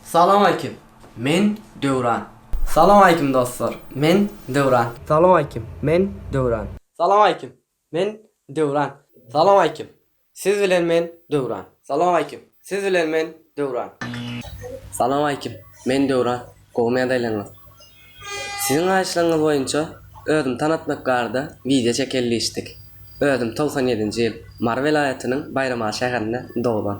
Salamaýkim! Men Döwran. Salamaýkim dostlar! Men Döwran. Salamaýkim! Men Döwran. Salamaýkim! Men Döwran. Salamaýkim! Siz bilen men Döwran. Salamaýkim! Siz bilen men Döwran. Salamaýkim! Men Döwran. Gowy medeliňiz. Siziň haýyşlaryňyz boýunça özümi tanatmak barada wideo çekeli diýişdik. Özüm togsan ýedinji ýyl Mary welaýatynyň Baýramaly şäherinde doglan.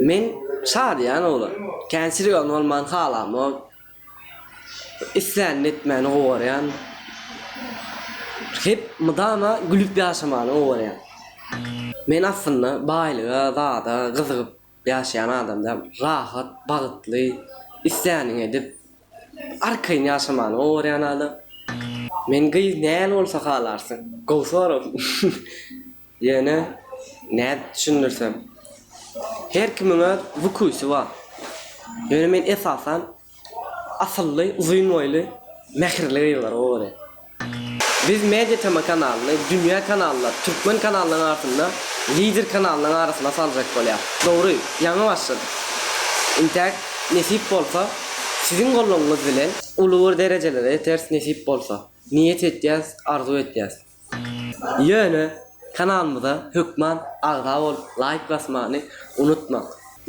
Men şadyýan oglan. Kän sirgawyn bolmany halamok. Islänini etmäni gowarýan. Hep mydama gülüp ýaşamany gowarýan. Men aslynda baýlyga, zada gyzygyp ýaşaýan adam däl. Rahat, bagtly, islänini edip, arkaýyn ýaşamany gowarýan adam. Men gyz näl bolsa halarsyň? Gowy sorag. Ýöne nädip düşündirsem. Her kimiň öz wkusy bar. Ýöne men esasan asylly, uzyn boýly, mähirli gyzlara owadan. Biz Media TM kanalyny dünýä kanallar, türkmen kanallaryň arasynda lider kanallaryň arasyna saljak bolýas. Dogry, ýaňy başladyk. Intäk, nesip bolsa, siziň goldawyňyz bilen uly bir derejelere ýeteris nesip bolsa. Niýet etýäs, arzuw etýäs. Ýöne kanalymyza hökman agza bolup laýk basmany unutmaň.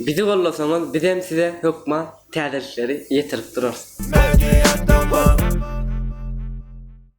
Bizi gollasaňyz bizem size hökman täzelikleri ýetirip durarys.